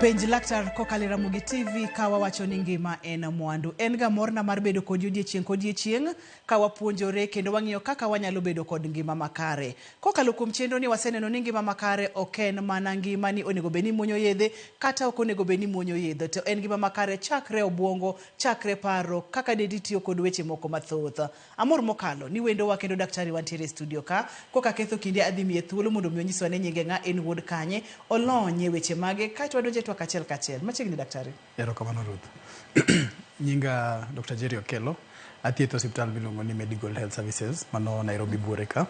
penj laktar kokalo Ramogi TV ka wawacho ni ngima en mwandu. En ga morna mar bedo kodi odiechieng' kodiechieng' ka wapuonjore kendo wang'iyo kaka wanyalo bedo kod ngima makare. Kokalo kuom chenro ni waseneno ni ngima makare ok en mana ngima ni onego bed ni muonyo yedhe kata ok onego bed ni muonyo yedhe to en ngima makare chakre obwongo, chakre paro kaka dendi tiyo kod weche moko mathoth. Amor mokalo ni wendowa kendo daktari wa ntiere e studio ka. Kok aketho kinde adhi miye thuolo mondo mi onyiswa ni nyinge ng'a, en wuod kanye, olonye weche mage kae to wadonje twak achiel kachiel. Machiegni daktari. Erokamano Ruth. Nyinga Dokta Jerry Okello, athietho osiptal miluongo ni Medigold Health Services mano Nairobi buore ka.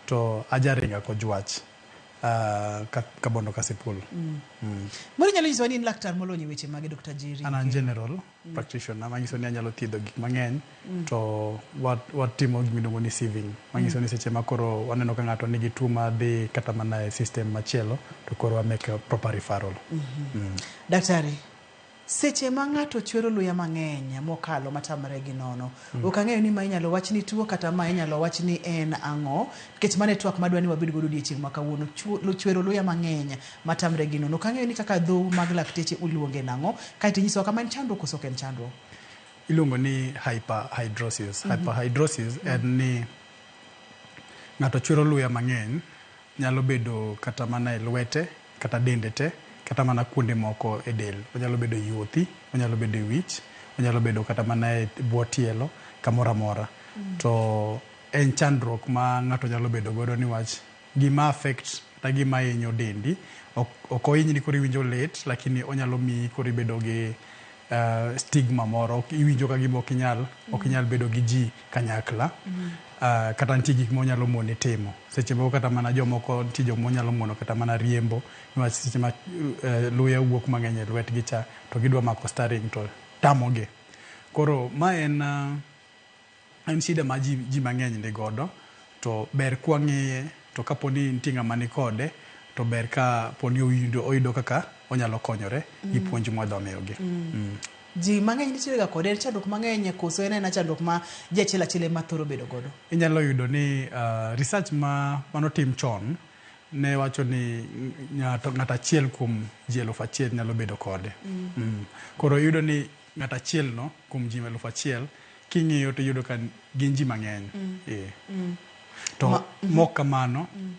To ajaringa kojwach ka kabondo kasipul. Moro inyalo nyisowa ni in laktar molony e weche mage Dokta Jerry? An an general. practitioner manyiso ni anyalo thiedho gik mang'eny mm. to watimo wat gimiluongo ni sieving manyiso mm. ni seche ma koro waneno ka ng'ato nigi tuo madhi kata mana e system machielo to koro wamake proper referral mm -hmm. mm. daktari seche ma ng'ato chwero luya mang'eny mokalo matamre gi nono Ok ang'eyo ni ma inyalo wach ni tuo kata ma inyalo wach ni en ang'o nikech mano e twak ma adwa ni wabed godo odiechieng' ma kawuono. Chwo, chwero luya mang'eny ma tamre gi nono. Ok ang'eyo ni kaka dhou mag lakteche uluonge nang'o, kae to inyisowa kama en chandruok koso ok en chandruok. Iluongo ni hyperhidrosis. Hyperhidrosis en ni ng'ato chwero luya mang'eny. Nyalo bedo kata mana e lwete kata dende te, kata mana kuonde moko e del. Onyalo bedo e yuothi, onyalo bedo e wich, onyalo bedo kata mana e bwo tielo, kamoro amora. To en chandruok ma ng'ato nyalo bedo godo niwach gima affect kata gima hinyo dendi ok ohinyni koro iwinjo lit lakini onyalo miyi koro ibedo gi stigma moro, iwinjo ka gima ok inyal, ok inyal bedo gi ji kanyakla. Kata nitie gik ma onyalo moni timo. Seche moko kata mana jomoko nitie joma onyalo mono kata mana riembo niwach seche ma luya wuok mang'eny e lwetgi cha to gidwa mako staring to tamogi. Koro ma en. en shida ma ji ji mang'eny ni godo to ber kwa ng'eye to kapo ni nitie ng'ama ni kode to ber ka po ni oyudo, oyudo kaka onyalo konyore gi mm. puonj mwadwa miyogi. Mm. Mm. Ji mang'eny nitiere ga kode chandruok mang'eny e koso en aena chandruok ma ji achiel achiel ema thoro bedo godo. Inyalo yudo ni uh, research ma manotim chon ne wacho ni ng'ato ng'at achiel kuom ji eluf achiel nyalo bedo kode. Mm. Mm. Koro yudo ni ng'at achiel no kuom ji eluf achiel king'iyo to iyudo ka gin ji mang'eny mm. eh. mm. to Ma, mm. mok kamano mm.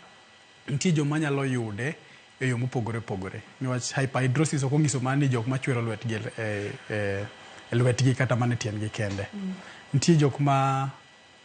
nitie joma nyalo yude e yo mopogore opogore niwach hyperhidrosis ok onyiso mana ni jok machwero lwetgi e, e, e lwetgi kata mana e tiendgi kende mm. nitie jok ma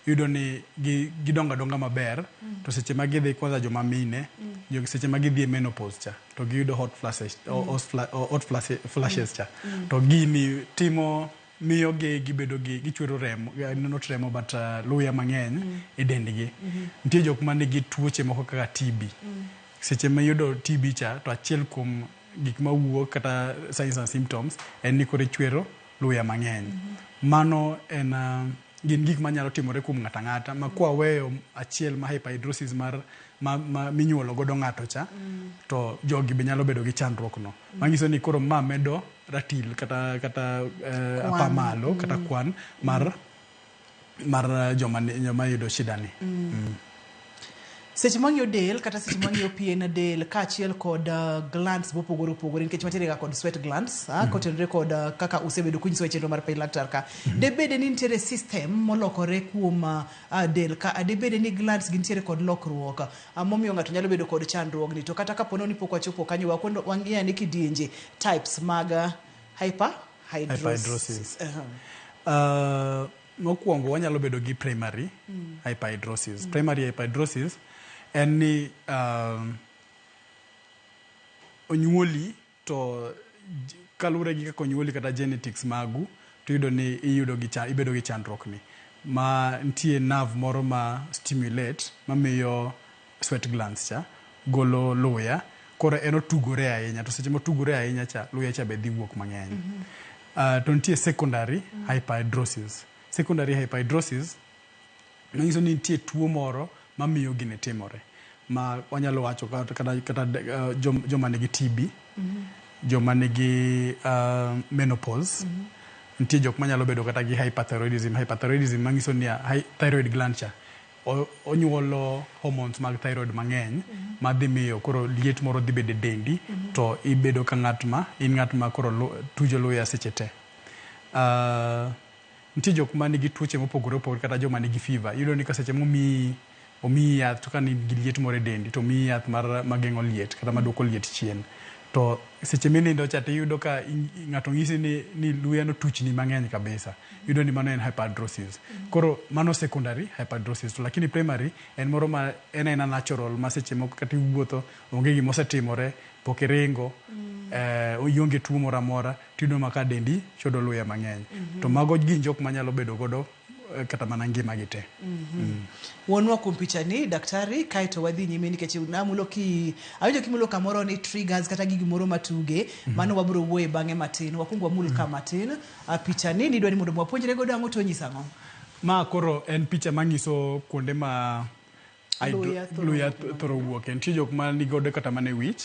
iyudo ni gi, gidongo adonga maber mm. to seche ma gidhi kwanza joma mine mm. seche ma gidhi e menopause cha to giyudo hot flashes, mm. hot, fla, hot flashes, flashes cha mm. mm. to gini timo miyo gi gibedo gi gichwero remo eh, not remo but uh, luya mang'eny mm. e dendgi mm -hmm. nitie jok ma nigi tuoche moko kaka TB mm. seche ma yudo TB cha to achiel kuom gik ma wuok kata signs and symptoms en ni kore chwero luya mang'eny mm -hmm. mano en uh, gin gik manyalo timore kuom ng'ato ang'ata ma kwaweyo achiel ma hyperhidrosis mar ma, ma minyuolo godo ng'ato cha mm. to jogi be nyalo bedo gi chandruok no mm. manyiso ni koro ma medo ratil kata kata eh, apa malo mm. kata kwan mar mm. mar eh, joma joma yudo shida ni mm. mm. Seche mwang'iyo del kata seche mwang'iyo pien del kaachiel kod uh, glands mopogore opogore nikech watiere ga kod sweat glands ah, mm-hmm. kotenore kod uh, kaka usebedo kunyiso e chenro mar piny laktar ka mm-hmm. debede ni nitiere system molokore kuom uh, uh, del ka ah, debede ni glands gintiere kod lokruok uh, momiyo ng'ato nyalo bedo kod chandruogni to kata kapo ni pok wachopo kanyo wakwendo wang'iyo ni kidienje types mag uh, hyper hydrosis, hydrosis. Uh-huh. Uh, Mokwongo wanyalo bedo gi primary hyperhidrosis. Primary hyperhidrosis en ni um, onyuoli to j- kaluwore gi kaka onyuoli kata genetics magu to iyudo ni iyudo gi cha, ibedo gi chandruok ni ma nitie nerve moro ma stimulate mamiyo sweat glands cha golo luya koro en otugore ahinya to seche motugore ahinya cha luya cha be dhi wuok mang'eny mm -hmm. uh, to nitie secondary mm -hmm. hyperhidrosis secondary hyperhidrosis manyiso ni nitie tuo moro mamiyo gini timore ma wanyalo wacho kata, kata, kata uh, jom, joma nigi TB mm -hmm. joma nigi uh, menopause mm -hmm. nitie jok manyalo bedo kata gi hyperthyroidism hyperthyroidism manyiso ni uh, thyroid gland cha onyuolo hormones mag thyroid mang'eny ma dhi miyo koro liet moro dhi bedo e dendi to ibedo ka ng'at ma in ng'at ma koro lu, tujo luya seche te. Uh, nitie jok ma nigi tuoche mopogore opogore kata joma nigi fever iyudo ni ka seche momiyi omiyi yath to ka nigi liet moro e dendi to omiyi yath mar mageng'o liet kata maduoko liet chien to Seche minindo cha tiyudo ka ng'ato ng'isi ni, ni luya notuchni mang'eny kabisa. Yudo ni mano en hyperhidrosis. Koro mano secondary hyperhidrosis. To lakini primary en moro ma en aena natural ma seche moko kata iwuotho onge gima osetimore, pok iringo, eh, ionge tuo moro amora, tiyudo ma ka dendi chodo luya mang'eny. To mago gin jok ma nyalo bedo godo eh, kata mana ngimagi te mm. wuonwa kuom pichani daktari kae to wadhi nyime nikech namulo ki awinjo kimulo kamoro ni triggers kata gi gimoro matuge mm-hmm. mano wabiro wuoye bang'e matin wakwongo wamul ka mm-hmm. matin ah, pichani nidwa ni mondo mwapuonjre godo ang'o to nyisa ang'o ma koro en picha manyiso kuonde ma Ai, du- Luya thoro luya wuok e thoro wuoke nitie jok ma nigodo kata mana e wich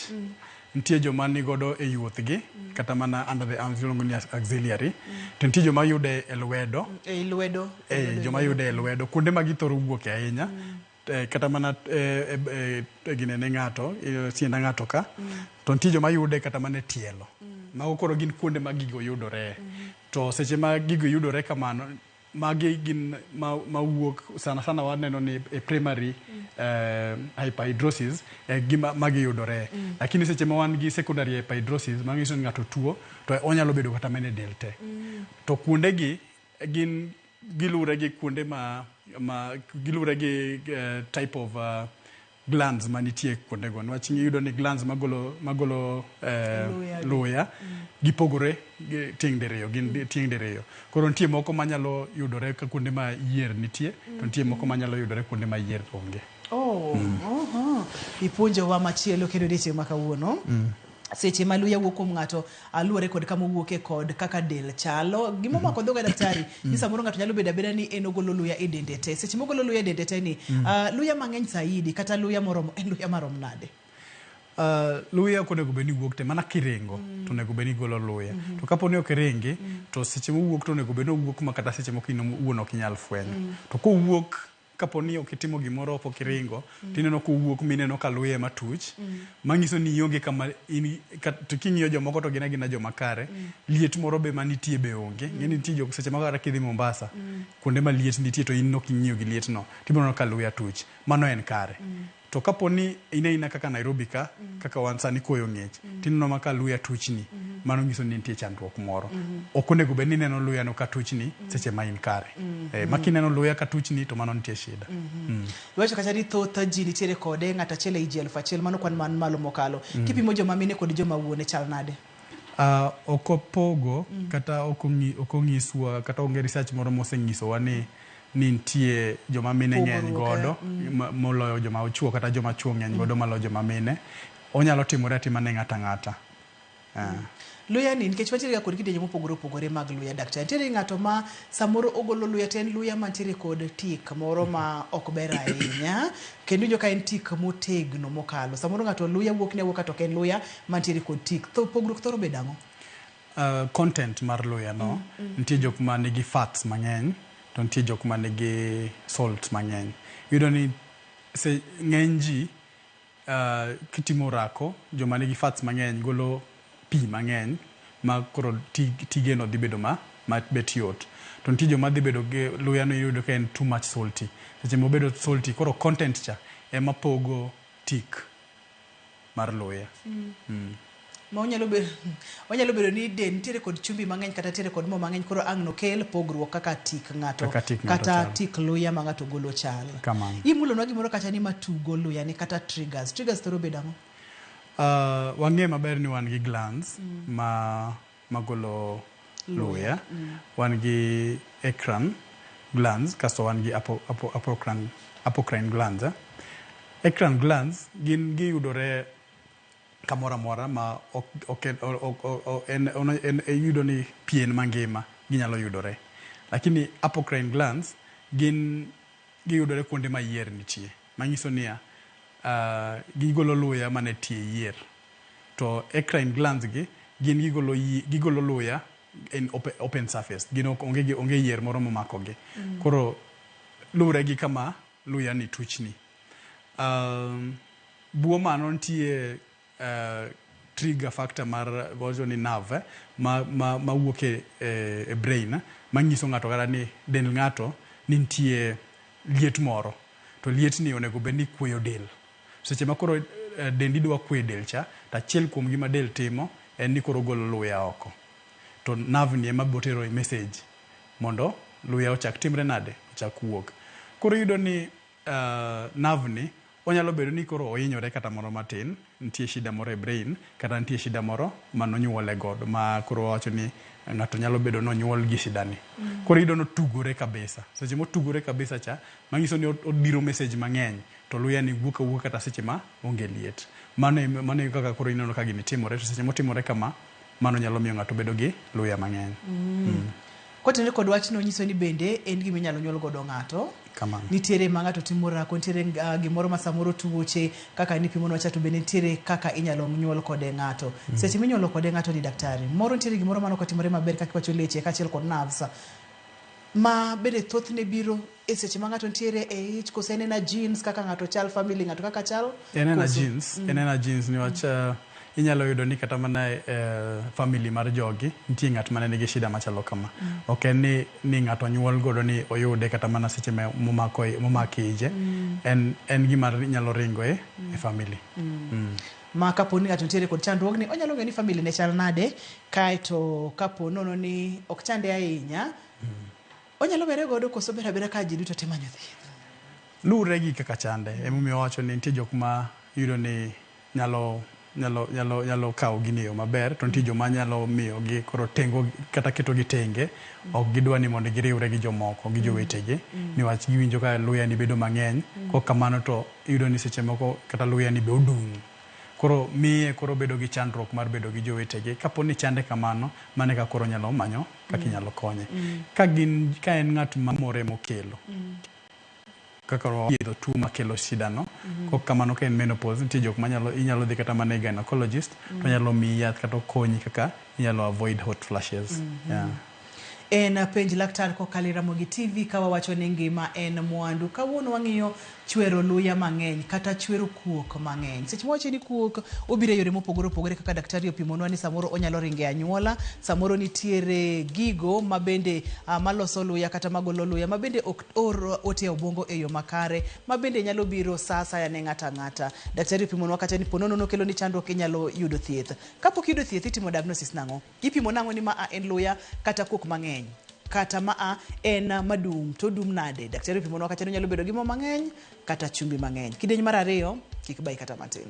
nitie joma nigodo e yuothgi kata mana under the arms iluongo ni as- auxiliary to nitie joma yude e lwedo ei lwedo eh, joma yude e lwedo kuonde ma githoro wuoke ahinya eh, kata mana eh, eh, eh, eh, ginene ng'ato eh, sienda ng'ato ka to nitie joma yude kata mana e tielo mago koro gin kuonde ma gigo yudore to seche ma gigo yudore kamano Magi gin ma, ma wuok sana sana waneno ni e primary mm. eh, hyperhidrosis eh, gima magi yudore mm. lakini seche ma wan gi secondary hyperhidrosis ma nyiso ni ng'ato tuo to onyalo bedo kata mene del te mm. to kuonde gi gin gilure gi kuonde ma, ma gilure gi uh, type of uh, glands manitie kuondego niwach iyudo ni glands magolo, magolo eh, Luya. luya gipogore gi- tieng' diriyo gin di- tieng' diriyo koro nitie moko manyalo yudore ka kuonde ma yier nitie to nitie moko manyalo yudore kuonde ma yier onge Oh, aha. Ipuonjowa machielo kendo odiechieng' ma kawuono. seche ma luya wuok kuom ng'ato ah, luwore kod kama owuoke kod kaka del chalo gima omako dhoga daktari ni samoro ng'ato nyalo bedo abeda ni en ogolo luya e dende te seche mogolo luya e dende te ni ah, luya mang'eny saidi kata luya moromo en luya marom nade Uh, luya ok onego bed ni wuok te mana kiringo to onego bed ni igolo luya to kapo ni ok iringi to seche mowuok to onego bed ni owuok ma kata seche moko in owuon ok inyal fwenyo to kowuok Kapo ni ok itimo gimoro pok iringo, to ineno kowuok mineno ka luye matuch, manyiso ni ionge kama in to king'iyo jomoko to gin agina joma kare. Liet moro be manitie be onge. Ing'e ni nitie jok seche moko kata kidhi Mombasa, kuonde ma liet nitie to in nok ing'iyo gi lietno, tibro neno ka luya tuch. Mano en kare. To kapo ni in aina kaka Nairobi ka, kaka wan sani koyo ng'ich, tineno ma ka luya tuchni, mano nyiso ni nitie chandruok moro. Ok onego bed ni ineno luyano ka tuchni seche ma in kare. Eh, ma kineno luya ka tuchni to mano nitie shida. Mm. Iwacho kacha ni thoth ji nitiere kode ng'ato achiel ei ji elfu achiel, mano kwan man malo mokalo. Kipimo joma mine kod joma wuone chal nade? Ah, ok opogo kata ok ong'i- ok onyiswa kata onge research moro mosenyisowa ni ni nitie joma mine ng'eny godo moloyo joma ochuo kata joma chuo ng'eny godo maloyo joma mine. Onyalo timore atima ne ng'ato ang'ata. Luya ni nikech wantiere ga kod kidienje mopogore opogore mag luya daktari. Nitiere ng'ato ma samoro ogolo luya to en luya mantiere kod tik moro ma ok ber ahinya kendo iwinjo ka en tik motegno mokalo. Samoro ng'ato luya wuokne awuoka to ok en luya mantiere kod tik. Pogruok thoro bedo ang'o? Uh, content mar luya no mm, mm. nitie jok ma nigi fats mang'eny to nitie jok ma nigi salt mang'eny yudo ni se ng'eny ji uh, kitimo rako joma nigi fats mang'eny golo pi mang'eny ma koro tige no dhi bedo ma, ma bet yot to nitie joma dhi bedo gi luya no yudo ka en too much salty seche mobedo salty koro content cha ema pogo tik mar luya mm. Mm. ma onyalo bedo onyalo bedo ni de nitiere kod chumbi mang'eny kata nitiere kod mo mang'eny koro ang' nokel pogruok kaka tik ng'ato kata tik luya ma ng'ato golo chal imulonwa gimoro kacha ni matugo luya ni kata triggers triggers thoro bedo ang'o uh, wang'e maber ni wan gi glands mm. ma magolo luya, wan gi ecran glands kasto wan gi apocrine apocrine glands. Ecran glands gin giyudore kamoro amora ma ok oke ok ok en en iyudo ni pien mangima ginyalo yudore. Lakini apocrine glands gin giyudore kuonde ma yier nitie. Manyiso niya, gigolo luya mana e tie yier. To ecrine glands gi gin gigolo yi, gigolo luya in ope, open surface. Gin ok, onge gi, onge yier moro momakogi. Koro luwre gi kama luya ni tuchni. Um, buo mano nitie uh, trigger factor mar, wawacho ni nerve eh, ma, ma, ma wuok e, e, e brain manyiso ng'ato kata ni dend ng'ato ni nitie liet moro. To lietni onego bed ni kueyo del. Seche ma koro dendi dwa kwe e del cha, to achiel kuom gi ma del timo en ni koro ogolo luya oko. To nerve ni ema botero e message mondo luya ochak timre nade, ochak wuok. Koro iyudo ni nerve ni onyalo bedo ni koro ohinyore kata moro matin, nitie shida moro e brain, kata nitie shida moro mane onyuole godo ma koro wawacho ni ng'ato nyalo bedo ni onyuol gi shida ni. Koro iyudo ni otugore kabisa. Seche motugore kabisa cha, manyiso ni odiro message mang'eny. to luya ni wuok awuoka kata seche ma onge liet. Mano e mano e kaka koro ineno ka gini timore to seche motimore kama mano nyalo miyo ng'ato bedo gi luya mang'eny. Mm. Kotenore kod wachno onyiso ni bende en gima inyalo nyuol godo ng'ato. Kamano. Nitiere ma ng'ato timo rako, nitiere uh, gimoro ma samoro tuoche kaka nipimonwa cha to bende nitiere kaka inyalo nyuol kode ng'ato. Mm. Seche minyuolo kode ng'ato ni daktari, moro nitiere gimoro mano kotimore maber kaka wacho leche kaachiel kod nerves ma bende thothne biro e seche ma ng'ato nitiere e ich kose en ena genes kaka ng'ato chal family ng'ato kaka chal en ena koso- jeans en ena jeans niwach eh, inyalo yudo ni kata mana e eh, family mar jogi nitie ng'at mane nigi shida machalo kama ok en ni, ni ng'ato nyuol godo ni oyude kata mana seche ma- momako momake ije en, en gima nyalo ringo e, e family mm. ma kapo ni ng'ato nitiere kod chandruogni, onyalo ng'eyo ni family ne chal nade, kaeto kapo nono ni ok chande ahinya, onyalo were godo koso obet abeta ka ji duto te manyo thieth? Luwre gi kaka chande, emomiyo wawacho ni nitie jok ma iyudo ni nyalo nyalo nyalo nyalo kawo gini e yo maber, to nitie joma nyalo miyogi koro tengo kata ketogi tenge, ok gidwa ni mondo giriwre gi jomoko gi jowetegi, niwach giwinjo ka luya ni bedo mang'eny, kok kamano to iyudo ni seche moko kata luyani be odung'. Koro miye koro obedo gi chandruok mar bedo gi jowetege. Kapo ni chande kamano, mano eka koro onyalo manyo kaka inyalo konye. Ka gin ka en ng'at mamore mokelo, kaka thiedho tuo makelo shidano. Kok kamano ka en menopause, nitie jok manyalo inyalo dhi kata mana e gynecologist, tonyalo miyi yath kata okonyi kaka inyalo avoid hot flashes. Yeah. En penj laktar kokalo e Ramogi TV ka wawacho ni ngima en mwandu. Kawuono wang'iyo chwero luya mang'eny kata chwero kuok mang'eny. Seche mawacho ni kuok obiro e yore mopogore opogore kaka daktari opimonwa ni samoro onyalo ringo e anyuola, samoro nitiere gigo mabende ah, maloso luya kata magolo luya mabende ok or ote e obwongo e yo makare mabende nyalo biro sa asaya ne ng'ato ang'ata. Daktari opimonwa kata ni po nono nokeloni chandruok inyalo yudo thieth. Kapok iyudo thieth itimo diagnosis nang'o? Ipimo nang'o ni maa en luya kata kuok mang'eny? Kata maa en madum to odum nade? Daktari opimonwa kata ni onyalo bedo gi mo mang'eny kata chumbi mang'eny. Kidieny mar ariyo kik bayi kata matin.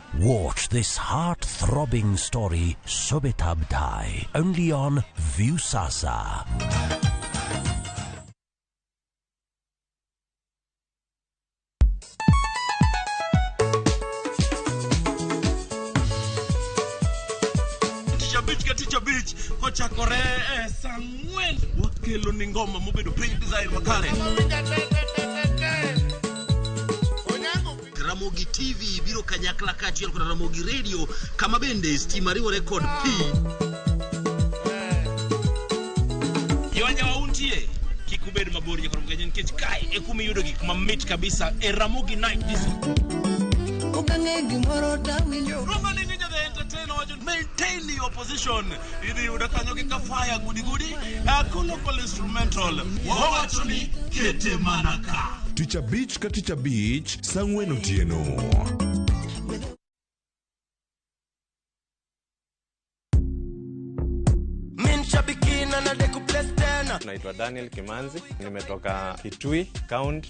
Watch this heart-throbbing story Subitabdai only on Viusasa. Tichabich ka Tichabich ochakore eh, saa ang'wen wakelo ni ngoma mobedo piny design makare Ramogi TV biro kanyakla kaachiel kod Ramogi Radio kama bende stima riwore kod pi. Jowanja wauntie kik ubed mabor nyaka Ramogi nikech kae e kuma iyudo gik mamit kabisa e Ramogi Night Disco. Ukang'e gimoro tawinjo. Romalingi Nyadhe Entertainer wacho maintain your position. idhi yuda kanyo gi kafaya gudigudi akuno kol instrumental wawacho ni kete mana ka tich abich ka tich abich sang'wen otieno naitwa daniel kimanzi nimetoka kitui county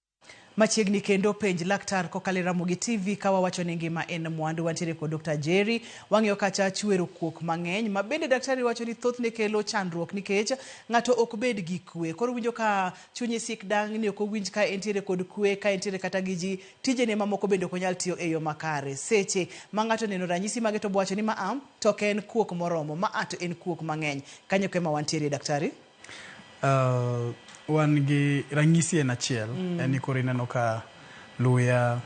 Machiegni kendo penj laktar kokalo e Ramogi TV ka wawacho ni ngima en mwandu. Wantiere kod Dr. Jerry, wang'iyo kacha chwero kuok mang'eny ma bende daktari wacho ni thothne kelo chandruok nikech ng'ato ok bed gi kwe. Koro winjo ka chunye sik dang' ni ok owinj ka entiere kod kwe, ka entiere kata gi ji, tijene mamoko bende ok onyal tiyo e yo makare. Seche ma ng'ato oneno ranyisi mage to obowacho ni ma a to ok en kuok moromo, ma a to en kuok mang'eny. Kanyo eko ema wantiere daktari. Uh, wan gi ranyisi en achiel mm. en ni koro ineno ka luya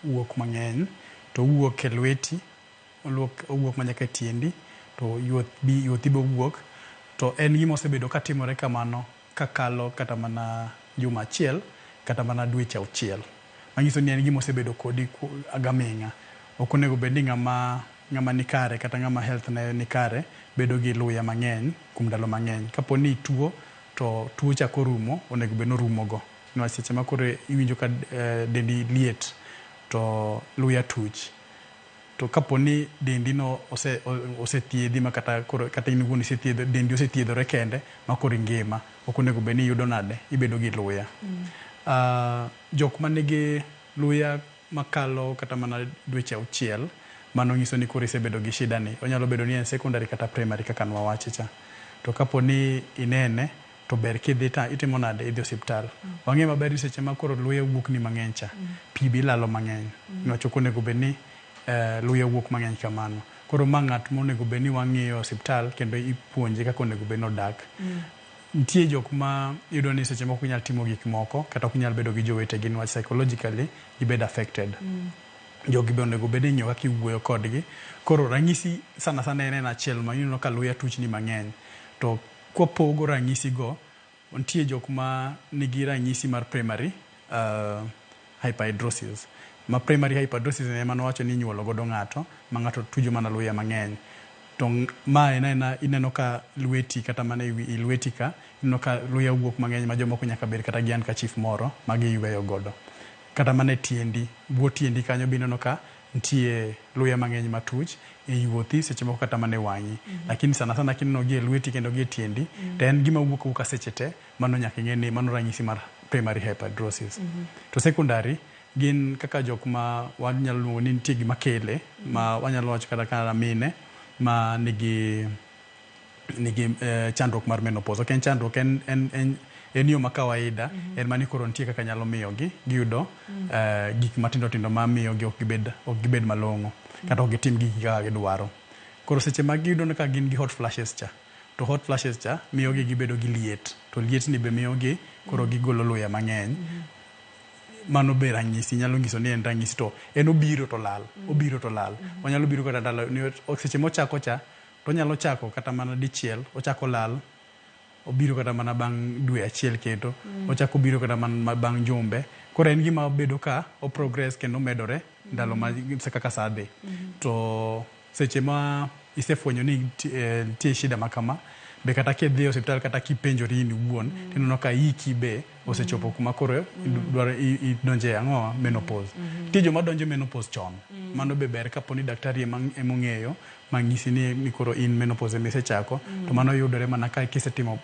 wuok mang'eny to wuok e lweti owuok manyaka e tiendi to yuothi be owuok to en gima osebedo ka timore kamano kakalo kata mana juma achiel kata mana dweche auchiel manyiso ni en gima osebedo kodi agaming'a ok onego bed ni ng'ama Ng'ama ni kare kata ng'ama health ne ni kare bedo gi luya mang'eny kuom ndalo mang'eny. Kapo ni ituo to tuo chako rumo, onego bed ni orumo go. Niwach seche ma koro iwinjo ka dendi liet to luya tuch. To kapo ni dendi no ose ose thiedhi ma kata koro kata in iwuon isethiedho dendi osethiedhore kende ma koro ingima, ok onego bed ni iyudo nade? Ibedo gi luya. Jok ma nigi luya makalo kata mana dweche auchiel, mano nyiso ni koro isebedo gi shida ni. Onyalo bedo ni en secondary kata primary kaka nwawache cha. To kapo ni inene, to ber kidhi ta itimo nade? Idhi osiptal. Wang'e maber ni seche ma koro luya owuok ni mang'eny cha, pi be ilalo mang'eny. Nwacho ok onego bed ni luya owuok mang'eny kamano. Koro ma ng'at monego bed ni wang'iyo e osiptal kendo ipuonje kaka onego bed ni odak. Nitie jok ma iyudo ni seche moko ok nyal timo gik moko kata ok nyal bedo gi jowetegi niwach psychologically gibedo affected. Jogi be onego bed ni ing'iyo kaka iwuoyo kodgi. Koro ranyisi sana sana en en achiel ma ineno ka luya tuchni mang'eny. To kwapogo ranyisigo, nitie jok ma nigi ranyisi mar primary. hyperhidrosis, ma primary hyperhidrosis ni ema nowacho ni inyuolo godo ng'ato ma ng'ato tujo mana luya mang'eny. To ma en aena ineno ka lweti kata mana e wi i lweti ka ineno ka luya owuok mang'eny ma jomoko nyaka bed kata gi handkerchief moro ma giyweyo godo. Kata mana e tiendi, bwo tiendi kanyo be ineno ka nitie luya mang'eny matuch, e yuothi seche moko kata mana e wang'i. Lakini sana sana kineno gi e lweti kendo gi e tiendi to en gima wuok awuoka seche te Mano nyaka ing'e ni mano ranyisi mar primary hyperhidrosis. Mm -hmm. To secondary gin kaka jok ma wanyalo luongo ni nitie gima kele ma wanyalo wacho kata kata mine ma nigi nigi eh, chandruok mar menopause. Ok en chandruok en, en, en en yo ma kawaida mm -hmm. en mani koro nitie kaka nyalo miyogi giyudo mm -hmm. uh, gik matindo tindo ma miyogi ok gibed, ok gibed malong'o mm -hmm. kata ok gitim gigi kaka gidwaro koro seche ma giyudo ka gin gi hot flashes cha To hot flashes cha miyogi gibedo gi liet to lietni be miyogi koro gigolo luya mang'eny. Mano be ranyisi nyalo nyiso ni en ranyisi to en obiro to lal, obiro to lal. Onyalo biro kata ndalo niwach seche mochako cha tonyalo chako kata mana dichiel ochako lal, obiro kata mana bang' dwe achiel kendo. Ochako obiro kata mana bang' jumbe. Koro en gima bedo ka o progress kendo omedore ndalo ma kaka sa dhi. To. Seche ma isefwenyo ni nitie shida ma kama, be kata kidhi e osiptal kata kipenjori in iwuon, tineno ka hiki be osechopo kuma koro dwaro idonjo e ang'owa, menopause. Nitie joma donjo e menopause chon, mano be ber kapo ni daktari ema ong'eyo ma nyisi ni koro in menopause ema isechako, to mano yudore mana ka kisetimo,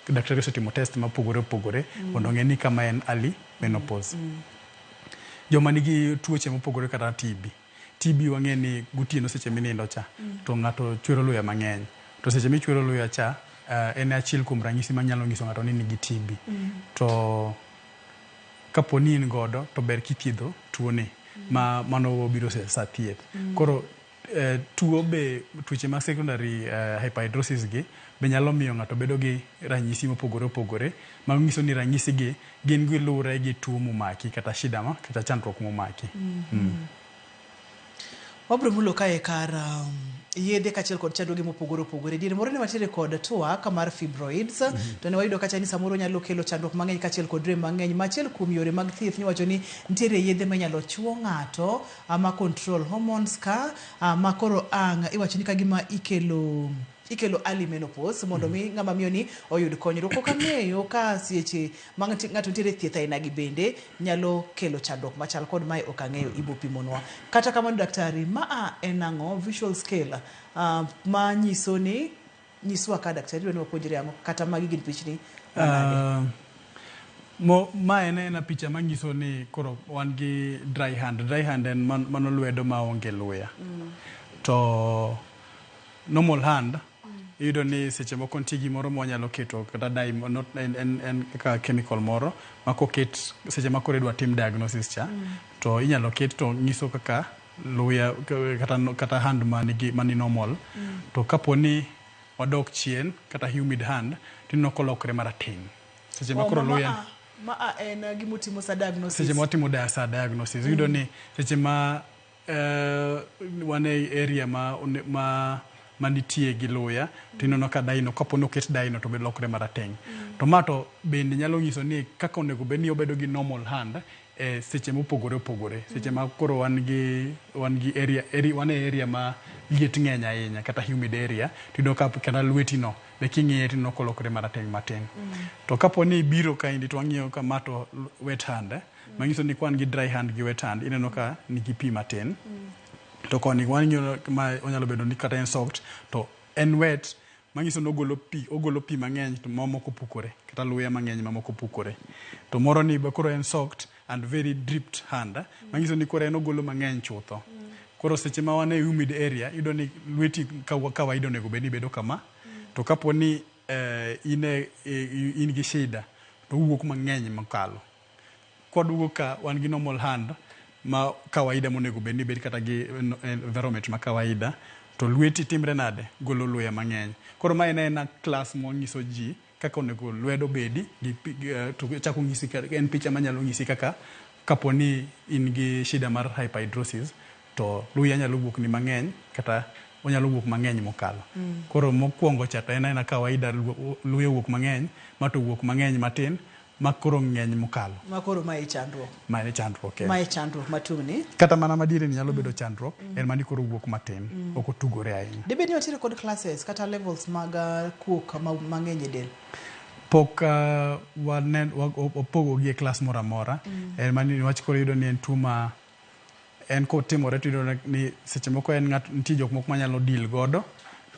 daktari osetimo test mopogore opogore mondo ong'e ni kama en early menopause. Joma nigi tuoche mopogore kata TB. TB wang'e ni gotieno seche minindo cha to ng'ato chwero luya mang'eny. To seche michwero luya cha, eh, en e achiel kuom ranyisi manyalo nyiso ng'ato ni nigi TB. To kapo ni in godo to ber kithiedho tuoni ma mano wabiro se- sa thieth. Koro eh, tuo be tuoche ma secondary eh, hyperhidrosis gi be nyalo miyo ng'ato bedo gi ranyisi mopogore opogore manyiso ni ranyisigi Gin gi luwre gi tuo momaki kata shida ma kata chandruok momaki. Wabiro mulo kae kar um, yedhe kachiel kod chandruoge mopogore opogore. Diere moro ne watiere kod twak mar fibroids to ne wayudo kacha ni samoro nyalo kelo chandruok mang'eny kachiel kod rem mang'eny. Ma achiel kuom yore mag thieth niwacho ni nitiere yedhe ma inyalo chuo ng'ato ah, ma control hormones ka ah, ma koro ang' iwacho ni kagima ikelo ikelo early menopause mondo mi ng'ama miyo ni oyud konyruok. Ok ang'eyo ka sieche ma ng'ati- ng'ato nitiere thieth aina gi bende nyalo kelo chandruok machal kod mae ok ang'eyo ibo pimonwa. Kata kamano daktari, ma a en ang'o visual scale ah, ma nyiso ni nyiswa ka daktari dwa ni wapuonjre ang'o kata magi gin pichni manade? Ah, mo- ma en ena picha manyiso ni koro wan gi dry hand dry hand en man- mano lwedo maonge luya to normal hand iyudo ni seche moko nitie gimoro mwanyalo keto kata dye mo- not- en- en en kaka chemical moro ma koket seche ma koro idwa tim diagnosis cha to inyalo ket to nyiso kaka luya k- kata no- kata hand manigi mani normal to kapo ni wadok chien kata humid hand tineno kolokre marateng seche ma koro luya ma a en gimutimo sa diagnosis seche ma watimo dia- sa diagnosis iyudo ni seche ma wan e area ma, ma manitie gi luya to ineno ka daino kapo ni oket daino to be lokre marateng' to ma to bende nyalo nyiso ni kaka onego bed ni obedo gi normal hand e seche mopogore opogore seche ma koro wan gi wan gi area, area wan e area ma liet ng'eny ahinya kata humid area tiyudo ka kata lweti no be king'iye tineno kolokore marateng' matin. To kapo ni ibiro kaendi to wang'iyo ka ma to wet hand manyiso ni kwan gi dry hand gi wet hand ineno ka nigi pi matin to koni waneno ma onyalo bedo ni kata en soft to en wet manyiso ni ogolo pi ogolo pi mang'eny to mamoko pukore kata luya mang'eny mamoko pukore to moro ni be koro en soft and very dripped hand manyiso ni koro en ogolo mang'eny chutho koro seche ma wan e humid area iyudo ni lweti ka wa- kawaida onego bed ni bedo kama to kapo ni eh, in e- i- in gi shida to owuok mang'eny mokalo Kwaduogo ka wan gi normal hand ma kawaida monego bed ni ibed kata gi environment ma kawaida to lweti timre nade? Golo luya mang'eny. Koro ma en aena class monyiso ji kaka onego lwedo obedi to chako onyisi en picha manyalo nyisi kaka kapo ni in gi shida mar hyperhidrosis to luya nyalo wuok ni mang'eny kata onyalo wuok mang'eny mokalo. Koro mokwongo cha to en aena kawaida luya owuok mang'eny ma to owuok mang'eny matin Ma koro ng'eny mokalo. Ma koro ma e chandruok. Ma e chandruok. Ma e chandruok matung' ni. Kata mana madiere ni nyalo bedo chandruok, mm. en mani koro wuok matin, mm. ok otugore ahinya. Dibed ni watiere kod classes kata levels mag uh, kuok mang'eny e del? pok uh, opogogi e klas moro amora mm. en mani niwach koro yudo ni en tuo ma en kotimore to iyudo ni seche moko en ng'at nitie jok moko manyalo deal godo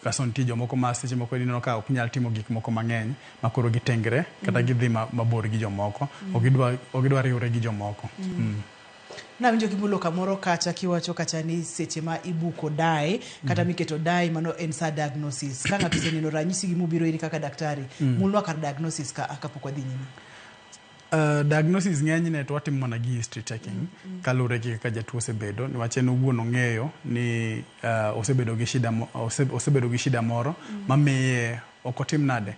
kaso nitie jomoko ma seche moko ineno ka ok nyal timo gik moko mang'eny ma koro gitengre kata mm. gidhi ma, mabor gi jomoko mm. ok gidwa ok gidwa riwre gi jomoko mm. mm. Nawinjo kimulo kamoro kacha kiwacho kacha ni seche ma ibuko dai kata mm. miketo dai mano en sa diagnosis. Ka ng'ato oseneno ranyisi gi mubiro iri kaka daktari, mm. mulwa kar diagnosis ka kapok wadhi nyime. Uh, diagnosis ng'enyne to watimo mana gi history taking mm -hmm. kaluwore gi kaka jatuo osebedo niwach en owuon ong'eyo ni uh, osebedo gi shida ose, osebedo gi shida moro mm -hmm. mamiye ok otim nade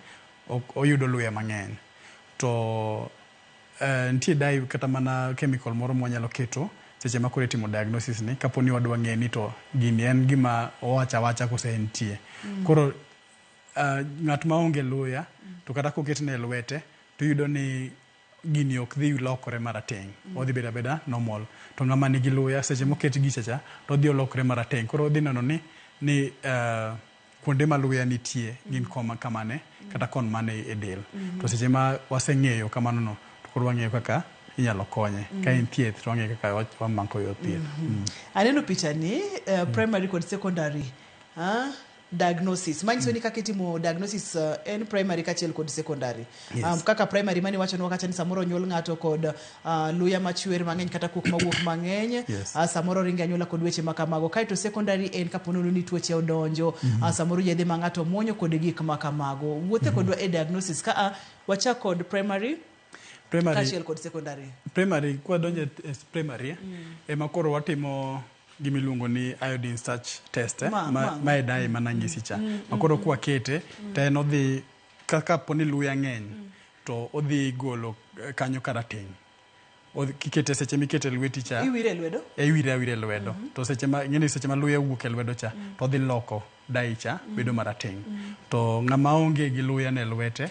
ok oyudo luya mang'eny to uh, nitie dai kata mana chemical moro mwanyalo keto seche ma koro itimo diagnosis ni kapo ni wadwa ng'e ni to gini en gima owacha wacha kose entie mm -hmm. koro uh, ng'at ma onge luya mm -hmm. to kata koketne lwete to iyudo ni gini ok dhi lokore marateng', odhi bedo abeda normal. To ng'ama nigi luya, seche moket gicha cha, to odhi olokre marateng'. Koro odhi neno ni, ni eh, kuonde ma luya nitie gin koma kamane, kata kon mane e del. To seche ma waseng'eyo kamano no, to koro wang'eyo kaka inyalo konye. Ka en thieth, to wang'eyo kaka wa- wamako yo thieth. Mm. Aneno pichani, eh, primary kod secondary. Ah, Diagnosis. Manyiso ni kaka itimo diagnosis uh, en primary kachiel kod secondary. Yes. Um, kaka primary mani wacho ni wakacha ni samoro onyuol ng'ato kod uh, luya machwer mang'eny kata kuok mawuok mang'eny. Yes. Uh, samoro ringe anyuola kod weche ma kamago. Kaeto secondary en kapo nono ni tuoche odonjo. Uh, samoro yedhe ma ng'ato muonyo kod gik ma kamago. Wuothe kodwa e diagnosis ka a wachak kod primary Primary, kachiel kod secondary. primary kwadonjo e e primary eh, ema koro watimo gima iluongo ni iodine starch test eh? ma, ma, ma e dai mm. mana nyisi cha mm, ma koro mm, kwa kete mm. to en odhi kaka po ni luya ng'eny mm. to odhi golo eh, kanyo karateng' kikete seche mikete lweti cha iwire lwedo e iwire awire lwedo mm -hmm. to seche ma ng'eni seche ma luya wuok e lwedo cha mm. to odhi loko daicha bedo marateng'. To ng'ama onge gi luya ne lwete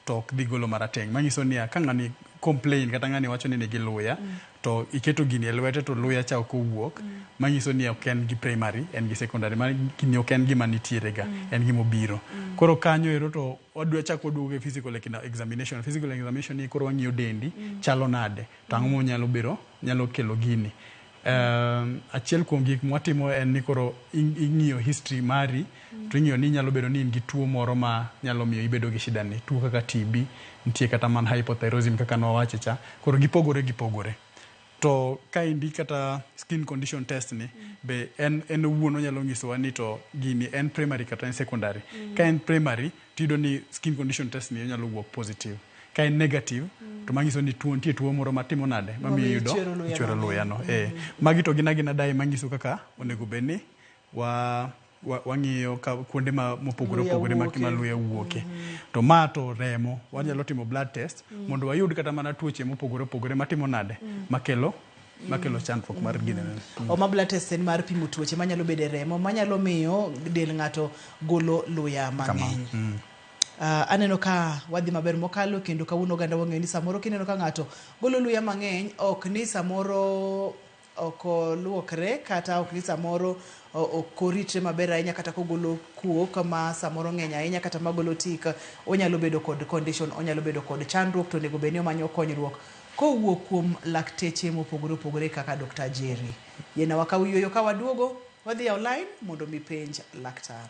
to ok dhi golo marateng'. Manyiso niya, ka ng'ani complain kata ng'ani wacho ni nigi luya to iketo gini e lwete to luya cha ok owuok, manyiso ni ok en gi primary, en gi secondary. Mano gini ok en gima nitiere ga, en gima obiro. Koro kanyo ero to wadwa chak waduogo e physical examination. Physical examination ni koro wang'iyo dendi chalo nade, to ang'o monyalo biro, nyalo kelo gini. Um, achiel kuom gik mwatimo en ni koro in- ing'iyo history mari to ing'iyo ni nyalo bedo ni in gi tuo moro ma nyalo miyo ibedo gi shida ni tuo kaka TB nitie kata man hypothyroidism kaka nwawache cha koro gipogore gipogore to ka indi kata skin condition test ni be en en owuon onyalo nyisowa ni to gini en primary kata en secondary ka en primary tiyudo ni skin condition test ni onyalo wuok positive ka en negative to manyiso ni tuo nitie tuo moro matimo nade mamiyo Mamiyo iyudo ichwero luya ichwero mang'eny. luya no eh magi to gin agina dai manyiso kaka onego bed ni wa wa- wang'iyo ka kuonde ma mopogore Luya opogore ma wuoke. ma luya wuoke to ma to remo wanyalo timo blood test mondo wayud kata mana tuoche mopogore opogore matimo nade makelo makelo mm. chandruok mar gine. Mm. Homa blood test en mar pimo tuoche manyalo bedo e remo manyalo miyo del ng'ato golo luya mang'eny. Mm. Uh, aneno ka wadhi maber mokalo kendo kawuono oganda wang'eyo ni samoro kineno ka ng'ato golo luya mang'eny ok ni samoro ok oluokre kata ok ni samoro ok oritre maber ahinya kata kogolo kuok ma samoro ng'eny ahinya kata magolo tik onyalo bedo kod condition onyalo bedo kod chandruok to onego bed ni omanyo konyruok Kowuok kuom lakteche mopogore opogore kaka Dokta Jerry. Yiena wakaw yueyo ka waduogo, wadhi yawo lain mondo mi penj laktar.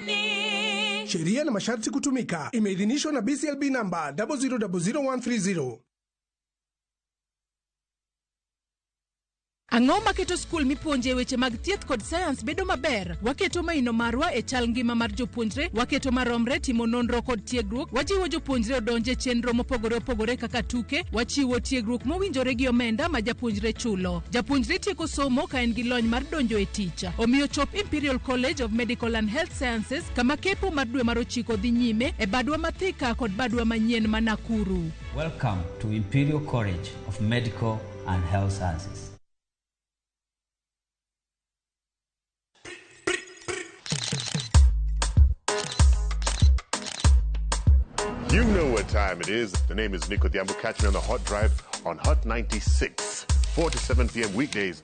Sheria na masharti kutumika. Imeidhinishwa na BCLB namba 0000130. Ang'o maketo skul mipuonje weche mag thieth kod sayans bedo maber? Waketo maino marwa e chal ngima mar jopuonjre, waketo maromre timo nonro kod tiegruok, wajiwo jopuonjre odonje chenro mopogore opogore kaka tuke, wachiwo tiegruok mowinjore gi omenda ma japuonjre chulo. Japuonjre tieko somo ka en gi lony mar donjo e tich. Omiyo chop Imperial College of Medical and Health Sciences kama kepo mar dwe mar ochiko dhi nyime e badwa ma Thika kod badwa manyien ma Nakuru. Welcome to Imperial College of Medical and Health Sciences. You know what time it is. The name is Nico Diambo. Catch me on the hot drive on Hot 96, 4 to 7 p.m. weekdays.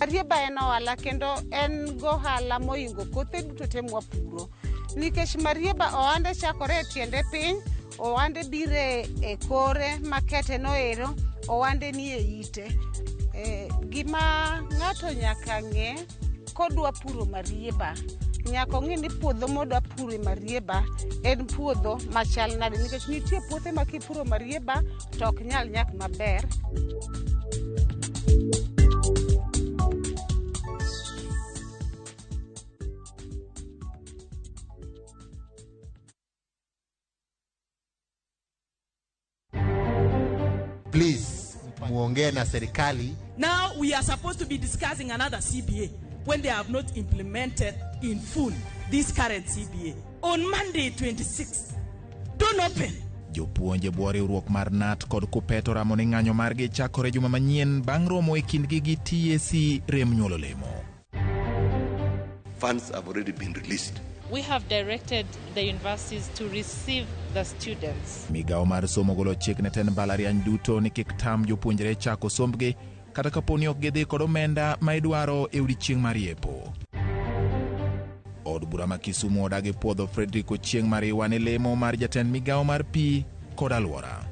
Marieba en ohala kendo en gohala moingo kothe duto te mwapuro nikech marieba ohande chakore e tiende piny ohande bire e kore makete noero ohande nie ite e, gima ng'ato nyaka ng'e kodwa puro marieba nyaka ong'e ni puodho modwa puro e marieba en puodho machal nade nikech nitie puothe ma kipuro marieba to ok nyal nyak maber Please muongee na serikali. Now we are supposed to be discussing another CBA when they have not implemented in full this current CBA. On Monday 26th, don't open. Jopuonje bwo riwruok mar NAT kod KUPPET oramo ni ng'anyo margi chakore juma manyien bang' romo e kindgi gi TSC rem nyuolo lemo. Funds have already been released. We have directed the universities to receive the students. Migawo mar somo golo chik ne ten mbalariany duto ni kik tam jopuonjre chako sombgi kata kapo ni ok gidhi kod omenda ma idwaro e odiechieng' mar yepo. Od bura ma Kisumu odagi puodho Frederick Ochieng' Mariwa ne lemo mar jatend migawo mar pi kod alwora.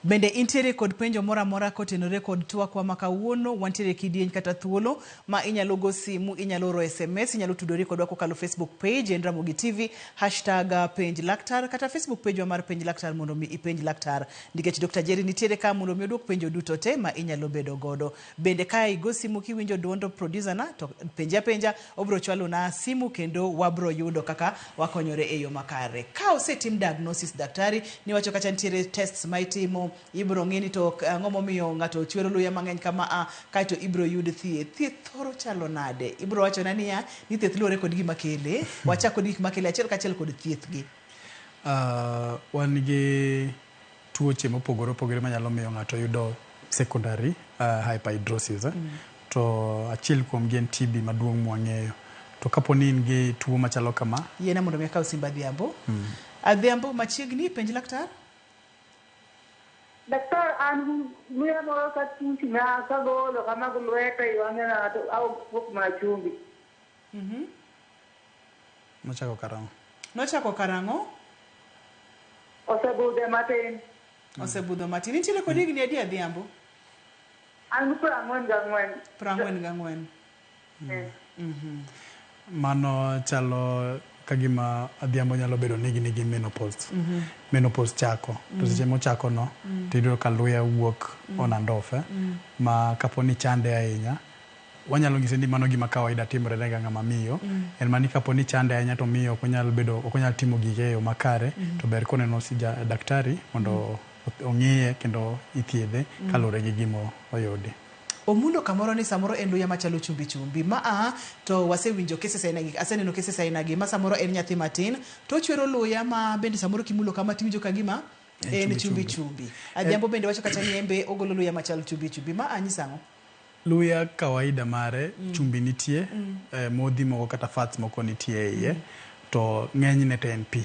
Bende intiere kod penjo moro amora kotenore kod twakwa ma kawuono? Wantiere kidieny kata thuolo ma inyalo go simu, inyalo oro SMS, inyalo tudori kodwa kokalo Facebook page en Ramogi TV, hashtag uh, penj laktar kata Facebook page wa mar penj laktar mondo mi ipenj laktar. Nikech Dr. Jerry nitiere ka mondo mi odwok penjo duto te ma inyalo bedo godo. Bende ka igo simu kiwinjo duond producer na to penje apenja obro chwalo na simu kendo wabro yudo kaka wakonyore e yo makare. Ka osetim diagnosis daktari niwacho kacha nitiere tests ma itimo ibro ng'i ni to ang'o momiyo ng'ato chwero luya mang'eny kama a kaeto ibro yud thieth. Thieth thoro chalo nade? Ibro wachona niya ni thieth luwore kod gima kele. Wachak kod gik makele achiel kachiel kod thieth gi. Wan gi. tuoche mopogore opogore manyalo miyo ng'ato yudo secondary uh, hyperhidrosis eh? to achiel kuomgi en TB maduong' mwang'eyo to kapo ni in gi tuo machalo kama yiena mondo mi akaw simba adhiambo adhiambo machiegni penj laktar Daktar, an muya moro ka tuchna ka golo kama gi lweta i wang'e ng'ato aonge kuok mana chumbi. Nochako karang'o? Nochako karang'o? Osebudhe matin. Osebudho matin. Intiere kod higni adi Adhiambo? An gi piero ang'wen gang'wen. Piero ang'wen gang'wen. Mano chalo ka gima Adhiambo nyalo bedo ni higni gi menopause. Menopause chako. To seche mochakono, to iyudo ka luya wuok on and off. Ma kapo ni chande ahinya, Wanyalo nyise ni mano gima kawaida timre ne ga ng'ama miyo, en mana ni kapo ni chande ahinya to miyo ok onyal bedo ok onyal timo gige eyo makare to ber koneno daktari mondo ong'iye kendo ithiedhe kaluwore gi gima oyudi. Omulo kamoro ni samoro en luya machalo chumbi chumbi. Ma a to wasewinjo cases aina gi aseneno cases aina gi ma samoro en nyathi matin to ochwero luya ma bende samoro kimulo kama tiwinjo ka gima en chumbi chumbi. Adhiambo bende wacho kacha ni en be ogolo luya machal chumbi chumbi. Ma a nyiso ang'o? Luya kawaida mare chumbi nitie, eh, modhi moko kata fats moko nitie e iye to ng'enyne to en pi.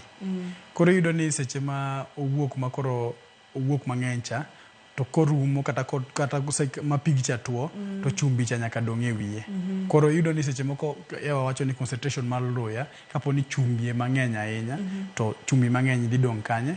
Koro iyudo ni seche ma owuok ma koro owuok mang'eny cha to korumo kata, ko- kata kose- ma pig cha tuo to chumbi cha nyaka dong' e wiye. Koro iyudo ni seche moko Ewa wacho ni concentration mar luya kapo ni chumbi e mang'eny ahinya to chumbi mang'eny dhi dong' kanye?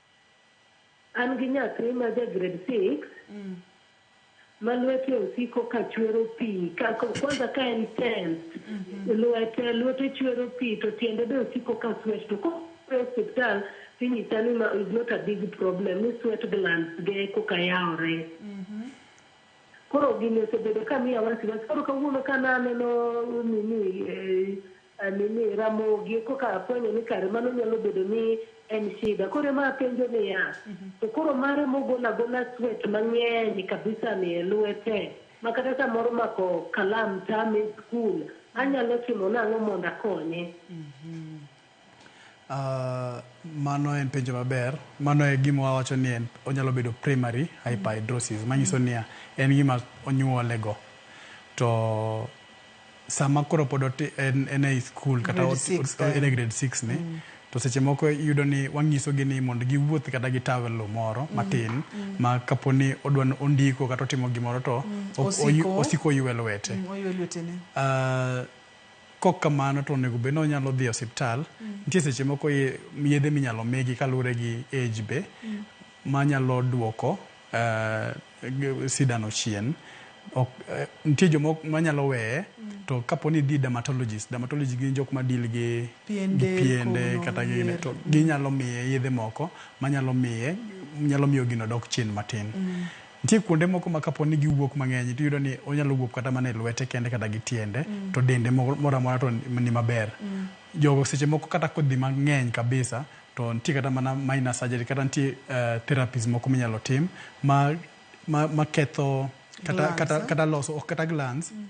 An gi nyathi ma ja grade six ma lwete osiko ka chwero pi. Ka- ko- Kwanza ka en tenth, lwete lwete chwero pi to tiende be osiko ka sweat. To ko e osiptal tinyisa ni ma is not a big problem ni sweat glands ge koka yawore. Koro gini osebedo ka miya wasiwasi. Koro kawuono ka naneno nini eh, A nini, Ramogi e koka afwenyo ni kare mano nyalo bedo ni en shida. Koro ema apenjo niya, to koro mare mogol agola sweat mang'eny kabisa ni e lwete ma kata samoro mako kalam tame e skul, anyalo timo nang'o mondo akonye? A, mano en penjo maber. Mano e gima wawacho ni en, onyalo bedo primary hyperhidrosis, manyiso niya, en gima onyuolego. To. sama koro pod oti- en en ei skul kata Grade oti- six, oti- en e eh. grade 6 ni Mm. to seche moko iyudo ni wang'isogi ni mondo giwuoth kata gi tawelo moro matin mm. ma kapo ni odwa ni ondiko kata otimo gimoro to Mm. ok- Osiko. oyu- osiko oywe lwete Mm, oywe lwetene. Ah, kok kamano to onego bed ni onyalo dhi e osiptal Mm. nitie seche moko ye- yedhe minyalo migi kaluwore gi age be Mm. manyalo duoko eh, sidano chien ok, eh, nitie joma manyalo weye mm. to kapo ni dhi dermatologist dermatologist gin jok ma deal gi piende, gi piende kata gi to mm. ginyalo miye yedhe moko manyalo miye nyalo miyo gino dok chien matin mm. nitie kuonde moko ma kapo ni giwuok mang'eny to yudo ni onyalo wuok kata mana e lwete kende kata gi tiende mm. to dende moro amora to ni maber mm. jogo seche moko kata kodhi mang'eny kabisa To nitie kata mana minor surgery kata nitie uh, therapies moko minyalo tim ma, ma, ma ketho kata, Glands, kata, eh? kata loso ok kata glands mm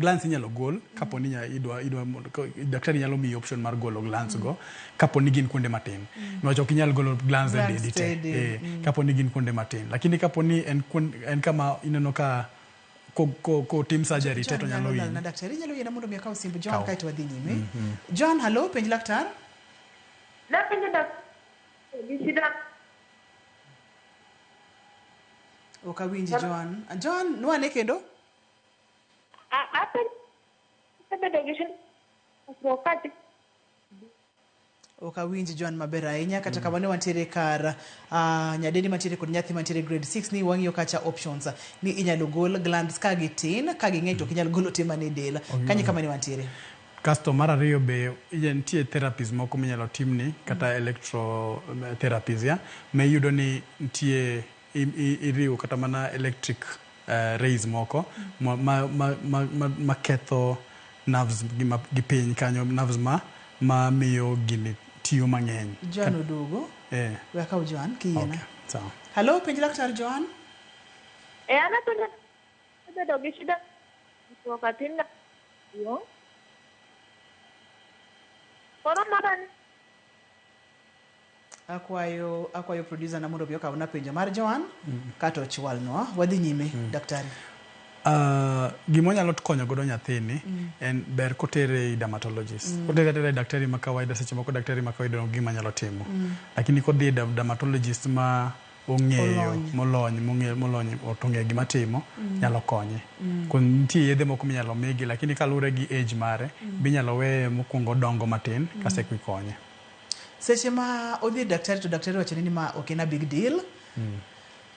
glands inyalo gol kapo ni nya- idwa idwa mondo- ko- daktari nyalo miyi option mar golo glands go kapo ni gin kuonde matin niwach ok inyal golo glands e Glands dendi te te del, Eh, kapo ni gin kuonde matin lakini kapo ni en, kuon- en kama ineno ka ko- ko- kotim surgery te to nyalo Ronald na hinyi daktari inyalo yiena mondo mi akaw simb John Kaw. kae to wadhi nyime John halo penj laktar Napenjo daktar ni shida Ok awinji Joan. Joan, nwane kendo? a- apenjo abedo gi shida wakati Ok awinji Joan maber ahinya kata kamano wantiere kar ah, nyadendi mantiere kod nyathi mantiere grade 6 ni wang'iyo kacha options ni inyalo gol glands ka gitin ka ging'eny to ok inyal golo te man e del. Kanyo kama ne wantiere. Kasto mar ariyo be nitie therapies moko minyalo timni kata electro therapies yeah, ma iyudo ni nitie iriwo kata mana electric rays moko maketho nerves gi piny kanyo, nerves mamiyo gini tiyo mang'eny. Joan oduogo. Eh. We akaw Joan kiyie na. Okay, sawa. Hello, penj laktar Joan. Eh, an apenjo Asebedo gi shida ndiko ka tin na duong'. Koro mara ni Akwayo akwayo producer na mondo obi okawna penjo mar Joan kato ochwalnwa. Wadhi nyime daktari. Uh, gima wanyalo konyo godo nyathini en ber kotere i dermatologist kotere atera i daktari ma kawaida seche moko daktari ma kawaida onge gima nyalo timo lakini kodhi e dermatologist ma ong'eyo molony mong'eyo molony otong'e gima timo mm. nyalo konye mm. kon nitie yedhe moko minyalo migi lakini kaluwre gi age mare mm. binyalo weye mokwongo dongo matin mm. kase kwi konye seche ma odhi daktari to daktari wachone ni ma ok en a big deal mm.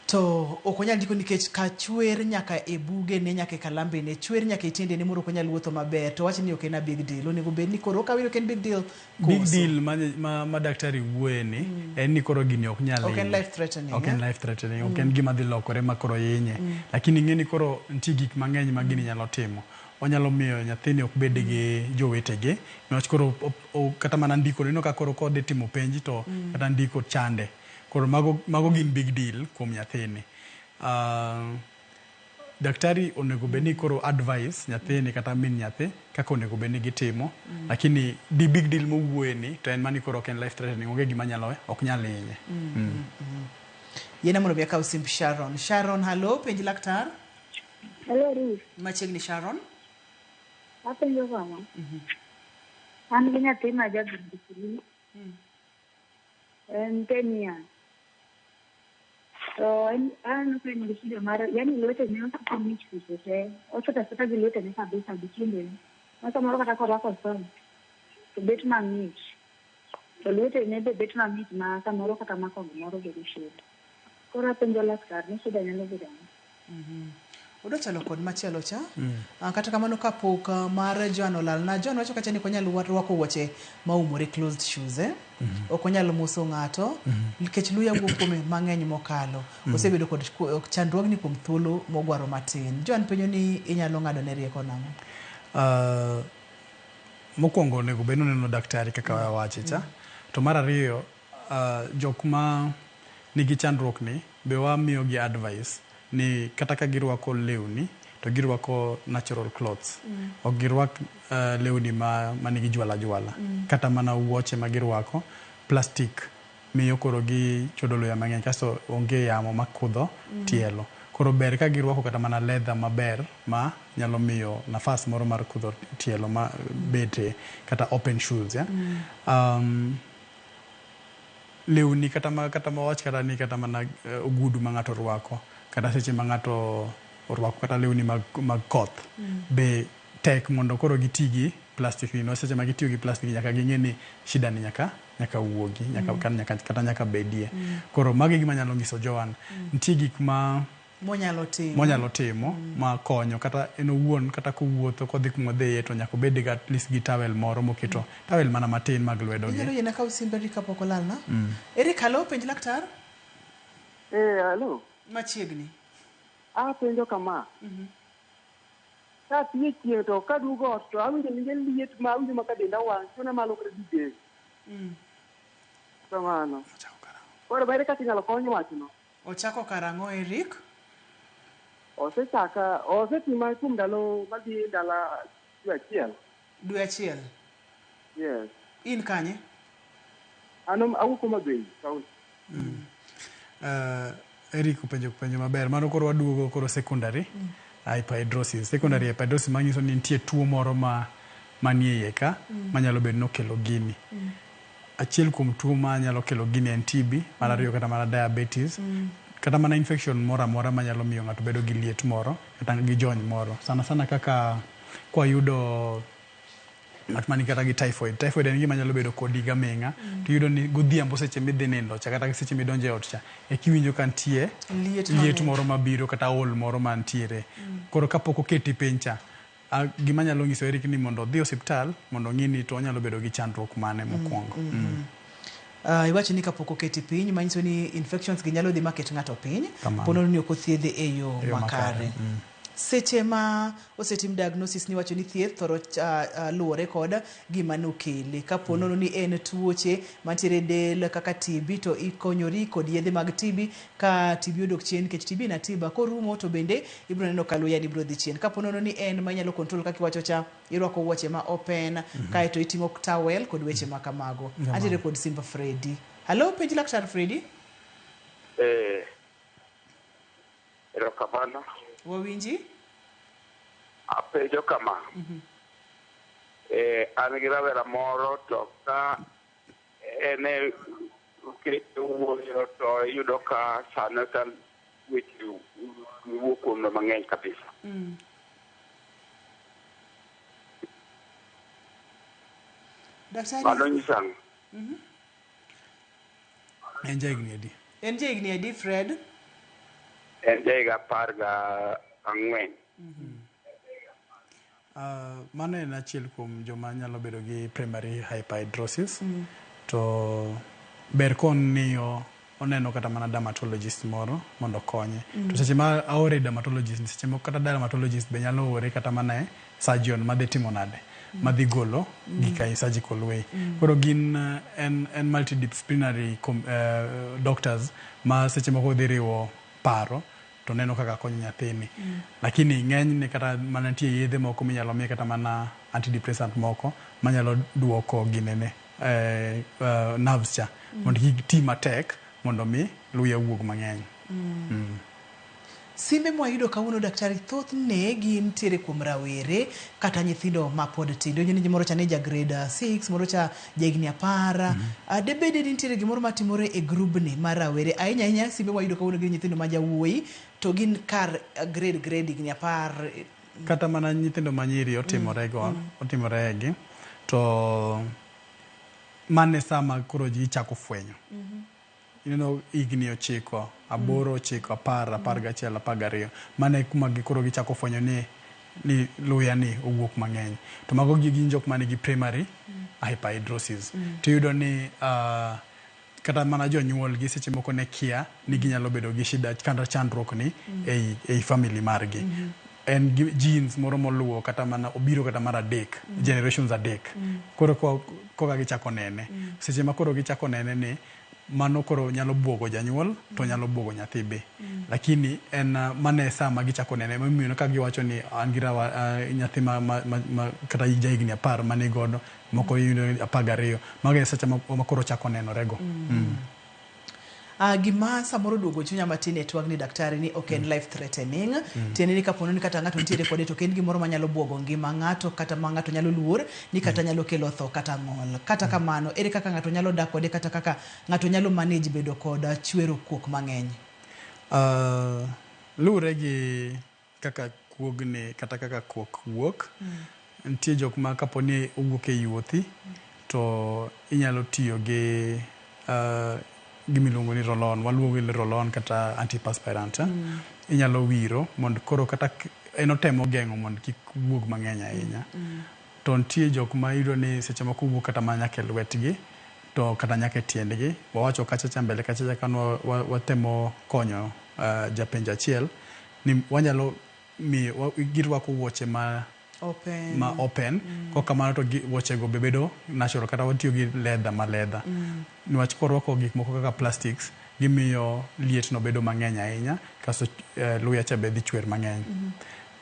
to ok onyal ndiko nikech ka chwer nyaka e buge ne nyaka e kalambe ne chwer nyaka e tiende ne moro ok onyal wuotho maber to wacho ni ok en a big deal onego bed ni koro okawe ni ok en big deal Big Koso. deal ma, ma, ma daktari wuoye ni en ni koro gini ok nyal Ok en hinye. life threatening, Ok en eh? life threatening, ok en gima dhi lokore ma koro hinye. Lakini ing'e ni koro nitie gik mang'eny ma gini nyalo timo. Onyalo miyo nyathini ok bed gi jowetege niwach koro op- o- kata mana ndiko ineno ka koro kodhi timo penj to kata ndiko chande. Koro mago mago gin big deal kuom nyathini. Ah, daktari onego bed ni koro advice nyathini kata min nyathi kaka onego bed ni gitimo mm. lakini the big deal mowuoye ni to en mani koro ok en life threatening onge gima nyalo ok nyal hinye mm. mm. mm. mm. yena mondo mi akaw simb sharon sharon hallo penj laktar hallo ruth machiegni sharon apenjo kama mm -hmm. an gi nyathi ma jagirikiri mm. En Kenya. To en aneno ka en gi shida mar yani lwetene osiko mich seche te. Osota sota gi lwetene kabisa gi timbene. Ma samoro kata korwako socks to bet mang'ich. To lwetene be bet mang'ich ma samoro kata mako gimoro bedo shida. Koro apenjo laktar ni shida nyalo bedo ang'o? Odwa chalo kod machielo cha. Ah, Kata kamano kapok ah, mar Joan olalna. Joan wacho kacha ni ok onyal wa- rwako wuoche ma umore closed shoes eh. Ok onyal moso ng'ato nikech luya wuok kuome mang'eny mokalo. Osebedo kod ku- ok chandruogni kuom thuolo mogwaro matin. Joan penyo ni inyalo ng'ado ne rieko nang'o? Ah, mokwongo onego bed ni oneno daktari kaka wawache cha to mar ariyo Jok ma nigi chandruok ni be wamiyo gi advice ni kata ka girwako lewni to girwako natural clothes. Ok girwak lewni ma manigi jwala jwala. Kata mana wuoche ma girwako, plastic miyo koro gichodo luya mang'eny kasto onge yamo ma kudho tielo. Koro ber ka girwako kata mana leather maber ma nyalo miyo nafas moro mar kudho tielo ma bete kata open shoes yeah. lewni kata ma kata ma wawach kata ni kata mana ogudu ma ng'ato rwako kata seche ma ng'ato orwako kata lewni mag mag koth be tek mondo koro giti gi plastic ni niwach seche ma gitiyo gi plastic nyaka ging'e ni shida ni nyaka nyaka wuogi nyaka kata nyaka bedie. Koro magi e gima nyalo nyiso Joan. Nitie gik ma monyalo timo, monyalo timo mm. ma konyo kata en owuon kata kowuotho kodhi kuma dhiye to nyaka obed ga at least gi towel moro moketo mm. towel mana matin mag lwedo gi inyalo yena ka usimbe ri kapok olal na mm. eri kalo penj laktar eh halo machiegni a ah, penjo kama mm -hmm. ka tiye chieng to ka dugo ot to awinjo ninge liet ma awinjo ma ka denda wang chuna malo kre dide mm. kamano koro bere kaka inyalo kony wachno Ochako karang'o Eric? Osechaka, osetima kuom ndalo madhi ndalo dwe achiel. Dwe achiel? Yes. In kanye? An awuok Homa Bay kaunti. Mm. Uh, Eric openjo penjo maber. Mano koro waduogo koro secondary mm. hyperhidrosis. Secondary mm. hyperhidrosis manyiso ni nitie tuo moro ma manie iye ka mm. manyalo bedo nokelo gini. Mm. Achiel kuom tuo ma nyalo kelo gini en TB, mar ariyo kata mana diabetes, kata mana infection moro amora ma nyalo miyo ng'ato bedo gi liet moro kata gi jony moro. Sana sana kaka kwayudo ng'at man kata gi typhoid. Typhoid en gima nyalo bedo kodi gaming'a. Tiyudo ni godhiambo seche midhi nindo cha kata seche midonjo e ot cha, ekiwinjo ka nitie Liet liet mamit. moro mabiro kata ol moro mantiere. Koro kapok oketi piny cha, A, gima nyalo nyiso Eric ni mondo odhi osiptal mondo ong'i ni to onyalo bedo gi chandruok mane mokwongo. Mm. Uh, iwacho ni kapok oketi piny manyiso ni infections gi nyalo dhi maket ng'ato piny Kamano. ponono ni ok othiedhe e yo E yo makare. makare. Seche ma osetim diagnosis ni wacho ni thieth thoro uh, uh, luwore kod gima nokele. Ka ponono ni en tuoche mantiere e del kaka TB to ikonyori kod yedhe mag TB Ka tibi odok chien nikech tibi ina tiba korumo to bende ibiro neno ka luya ni biro dhi chien. Kapo nono ni en ma inyalo control kaka iwacho cha, irwako wuoche ma open, kae to iting'o towel kod weche ma kamago. Jamani. Antiere kod Simba Freddy. Hello, penj laktar Freddy. Eh, erokamano. Wawinji? Apenjo kama. Eh, an gi rawera moro to ka ene keto wuoyo to iyudo ka sana sana weche wuo kuom no mang'eny kabisa. Mm. Daktari. Mano nyisa ang'o? Mhm. En jahigni adi? En jahigni adi Fred? En jahiga apar ga ang'wen. Mhm. Mano en achiel kuom joma nyalo bedo gi primary hyperhidrosis to ber koniyo oneno kata mana dermatologist moro mondo okonye. Mm. To seche ma aore dermatologist seche moko kata dermatologist be nyalo ore kata mana e surgeon ma dhi timo nade mm. ma dhi golo mm. gik e surgical way. Mm. Koro gin eh, en en multidisciplinary uh, doctors ma seche moko dhi riwo paro to neno kaka akonyo nyathini. Lakini ng'enyne kata mana nitie yedhe moko minyalo miye kata mana antidepressant moko manyalo duoko ginene, eh, eh, nerves cha mondo kik ti matek mondo mi luya owuog mang'eny. Mm. Simbe mwayudo kawuono daktari thothne gin tiere kuom rawere kata nyithindo mapod tindo. Ineno ni moro cha ne ja grade 6, moro cha jahigni apar mm -hmm. debed ni nitiere gimoro matimore e grubni mar rawere ahinya ahinya simbe wayudo kawuono gi nyithindo ma jawuoyi to gin kar eh, grade grade higni apar eh, kata mana nyithindo manyiri mm, otimorego mm -hmm. otimoregi to mane sama koro ji chako fwenyo mm -hmm. You know, higni ochiko, aboro, mm. ochiko, apar, mm. apar gachiel, apar gariyo. Mano e kuma gikoro gichako fwenyo ni ni luya ni owuok mang'eny. To mago gi gin jok manigi primary mm. hyperhidrosis. Mm. To yudo ni uh, kata mana jonyuol gi seche moko ne kia ni ginyalo bedo gi shida kata chandruok ni mm. ei, ei family margi. Mm -hmm. en gi genes moro moluwo kata mana obiro kata mar adek mm. generations adek mm. koro koka gichako nene mm. seche ma koro gichako nene ni mano koro nyalo buogo janyuol to mm. nyalo buogo nyathi be mm. lakini en uh, mano e saa ma gichako nene momiyo ka giwacho ni an gi rawa uh, nyathi ma, ma, ma, ma kata jahigni apar mane godo moko mm. apar gariyo mago e seche ma koro chako nenorego mm. mm. Uh, gima samoro duogo chunya matin e twagni daktari ni ok en mm. life threatening mm. tiende ni kapono ni kata ng'ato nitiere kode to ok en gimoro manyalo buogo ngima ng'ato kata ma ng'ato nyalo luor ni kata mm. nyalo kelo tho kata ng'ol kata mm. kamano ere kaka ng'ato nyalo dak kode kata kaka ng'ato nyalo manage bedo kod chwero kuok mang'eny uh, luwre gi kaka kuogni kata kaka kuok wuok. Nitie jok ma kapo ni owuok e yuothi to inyalo tiyo gi gima iluongo ni roll-on, waluongo ni roll-on kata antiperspirant. Inyalo wiro mondo koro kata en otemo geng'o mondo kik wuog mang'eny ahinya. To nitie jok ma iyudo ni seche moko wuok kata mana nyaka e lwetgi to kata nyaka e tiendgi. Wawacho kacha cha mbele kacha cha ka ne watemo konyo japenjo achiel. ni wanyalo miyo girwako wuoche ma open. ma open mm. kok kamano to wuochego be bedo natural kata watiyo gi leather ma leather mm. niwach korwako gik moko kaka plastics gimiyo lietno bedo mang'eny ahinya kasto uh, eh, luya cha be dhi chwer mang'eny mm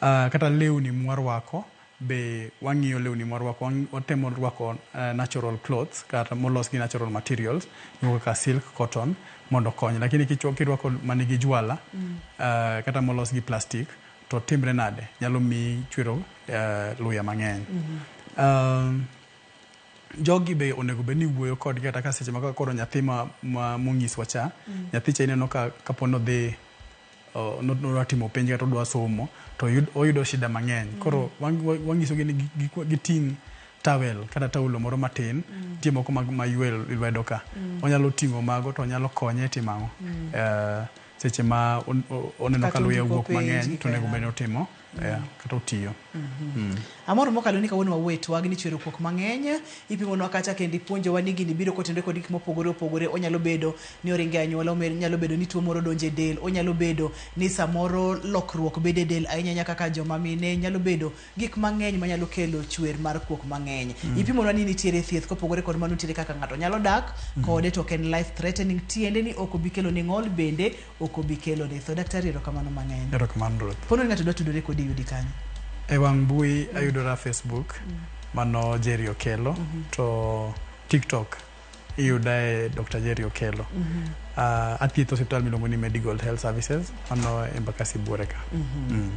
-hmm. uh, kata lewni mwarwako Be wang'iyo lewni mwarwako, wang' watemo rwako eh, natural clothes kata molos gi natural materials, gigo kaka silk, cotton mondo okony. Lakini kichwa kirwako manigi jwala eh, kata molos gi plastic to timre nade? Nyalo miyi chwero eh, luya mang'eny. Um, jogi be onego bed ni wuoyo kodgi kata ka seche ma koro nyathi ma, ma monyiswa cha nyathi cha ineno ka kapo ni odhi nodwa timo penj kata odwa somo to oyudo shida mang'eny. Mm. Koro wang'isogi ni giting' towel kata taulo moro matin, mm. tie moko ma ywe lwedo ka. Mm. Onyalo ting'o mago to onyalo konye timo ang'o. Eh, seche ma oneno ka luya wuok mang'eny to onego bed ni otimo. Yeah, kata otiyo. Amor mokalo ni kawuono wawuoye twagi ni chwero kuok mang'eny ipimolwa kacha kendo ipuonjowa ni gini biro kotenore kod gik mopogore opogore onyalo bedo ni oringo e anyuola omer- nyalo bedo ni tuo moro donjo e del onyalo bedo ni samoro lokruok bedo e del ahinya ahinya kaka joma mine nyalo bedo gik mang'eny manyalo kelo chwer mar kuok mang'eny ipimonwa ni nitiere thieth kopogore kod mano nitiere kaka ng'ato nyalo dak kode to ok en life threatening tiende ni ok obi kelo ni ng'ol bende ok obi kelo ritho. Daktari erokamano mang'eny. Erokamano Ruth. Pono ni ng'ato dwa tudore kodi yudi kanye? E wang' mbui mm. ayudora Facebook mm. mano Jerry Okelo mm -hmm. to TikTok iyuda e Dr. Jerry Okelo. Mm -hmm. uh, athietho hospital miluongo ni Medical Health Services mano Embakasi Buore ka. Mm -hmm. mm.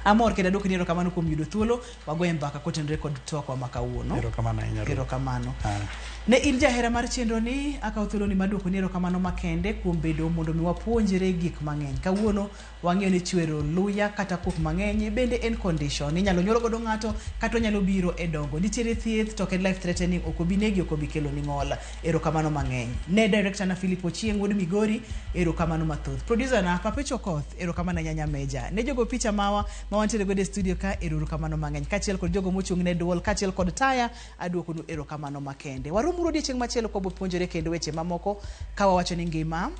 Amor kendo adwoko ni erokamano kuom yudo thuolo wagoye mbaka kotenore kod twakwa ma kawuono erokamano ahinya Ruth. erokamano Ah. ne in jahera mar chenro ni akawo thuoloni mar dwoko ni erokamano makende kuom bedo mondo mi wapuonjre gik mang'eny kawuono wang'eyo ni chwero luya kata kuok mang'eny bende en condition inyalo nyuolo godo ng'ato kata onyalo biro e dongo nitiere thieth to ok en life threatening ok obi negi ok obi keloni ng'ol erokamano mang'eny ne director na philip ochieng wuod migori erokamano mathoth producer na papecho koth erokamano anyanya meja ne jogo picha mawa ma wantiere godo e studio ka erouru kamano mang'eny kaachiel kod jogo mochung' ne duol kaachiel kod taya aduokonu erokamano makende waromuru odiechieng' machielo kwa bopuonjore kendo weche mamoko ka wawacho ni ngima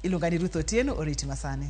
iluonga ni ruth otieno oriti masani